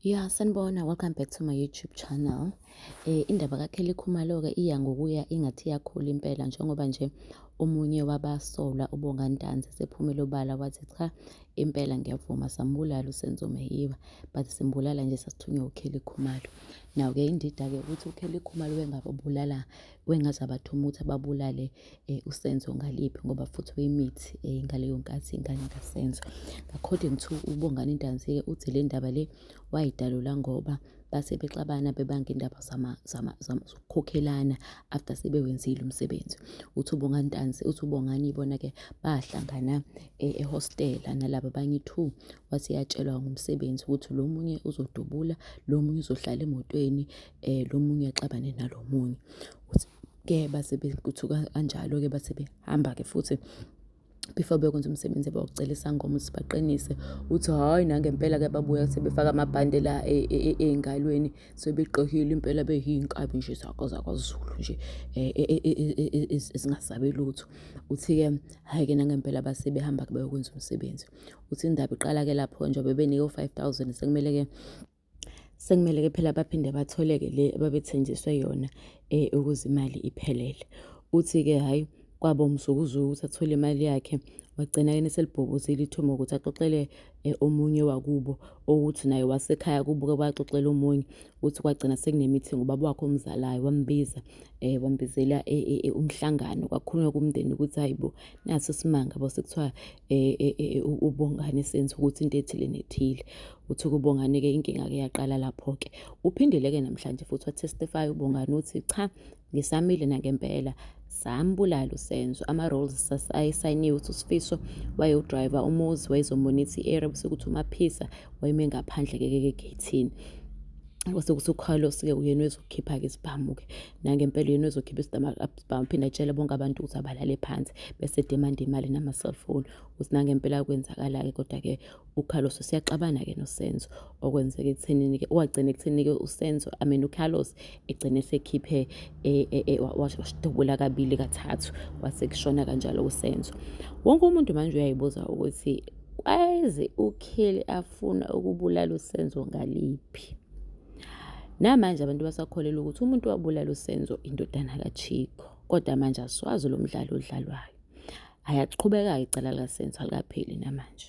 Ya sanibona, welcome back to my YouTube channel. Eh, indaba kaKelly Khumalo-ke iya ngokuya ingathi iyakhula impela njengoba nje omunye wabasolwa uBonga Ntanzi sephumele obala wathi cha impela ngiyavuma sambulala uSenzo Meyiwa but simbulala nje sasithunywe uKelly Khumalo. Now-ke indida-ke ukuthi uKelly Khumalo wengababulala wengaze abathuma ukuthi ababulale uSenzo ngaliphi ngoba futhi wayemithi ngaleyo nkathi ingane kaSenzo. According to uBongani Ntanzi-ke uthi le ndaba le wayidalula ngoba base bexabana bebanga indaba zokukhokhelana after sebewenzile umsebenzi. Uthi uBongani Ntanzi, uthi uBongani ibona-ke bahlangana ehostela nalaba abanye two, wathi yatshelwa ngomsebenzi ukuthi lo munye uzodubula, lo munye uzohlala emotweni, lo munye axabane nalo munye. Uthi. ke base bekuthuka kanjalo-ke base behamba-ke futhi before bekwenza umsebenzi bawucela isangoma ukuthi baqinise uthi hhayi nangempela ke babuya sebefaka amabhande la e, e, e, ey'ngalweni sebegqokile impela beyiy'nkabi nje zakho zakwazulu nje ezingasabi lutho uthi-ke hhayi-ke nangempela base behamba-ke bayokwenza umsebenzi uthi indaba iqala-ke lapho nje bebenike u-five thousand sekumele-ke Sekumele-ke phela baphinde bathole-ke le ababethenjiswe yona eh, ukuze imali iphelele. Uthi-ke hhayi kwaba umzukuzuku ukuthi athole imali yakhe wagcina yena eselibhobozile ithuba ukuthi axoxele eh, omunye wakubo ukuthi naye wasekhaya kubuke kwaxoxela omunye ukuthi kwagcina sekunemithingi ubaba wakhe omzalayo wambiza eh wambizela eh, eh, eh, umhlangano kwakhulunywa kumndeni ukuthi hayibo naso simanga bo sekuthiwa eh, eh, eh, eh, u- ubongane senza ukuthi into ethile nethile Uthi uKubongani-ke inkinga-ke yaqala lapho-ke. Uphindile-ke namhlanje futhi wathestifaya uBongani uthi cha ngisamile nangempela sambulala usenzo ama-roles ayesayiniwe uthi usifiso wayewudrayiva umuzi wayezomonitha i-area bese kuthi umaphisa wayeme ngaphandle-ke kegethini kwase kuthi ucarlos-ke uyena ozokhipha-ke isibhamu-ke nangempela uyena ozokhipha isibhamu phinde atshele bonke abantu ukuthi abalale phansi bese demanda imali nama-cellphone ukuthi nangempela kwenzakala-ke kodwa-ke uCarlos siyaxabana ke noSenzo okwenzeka ekuthenini ke wagcina ekuthenini ke uSenzo I mean uCarlos egcine sekhiphe e, e, e, washtubula kabili kathathu wase kushona kanjalo uSenzo wonke umuntu manje uyayibuza ukuthi kwaze uKheli afuna ukubulala uSenzo ngaliphi namanje abantu basakholelwa ukuthi umuntu wabulala uSenzo indodana kaChiko kodwa manje asiwazi lo mdlalo odlalwayo ayaqhubeka icala likaSenzo alikapheli namanje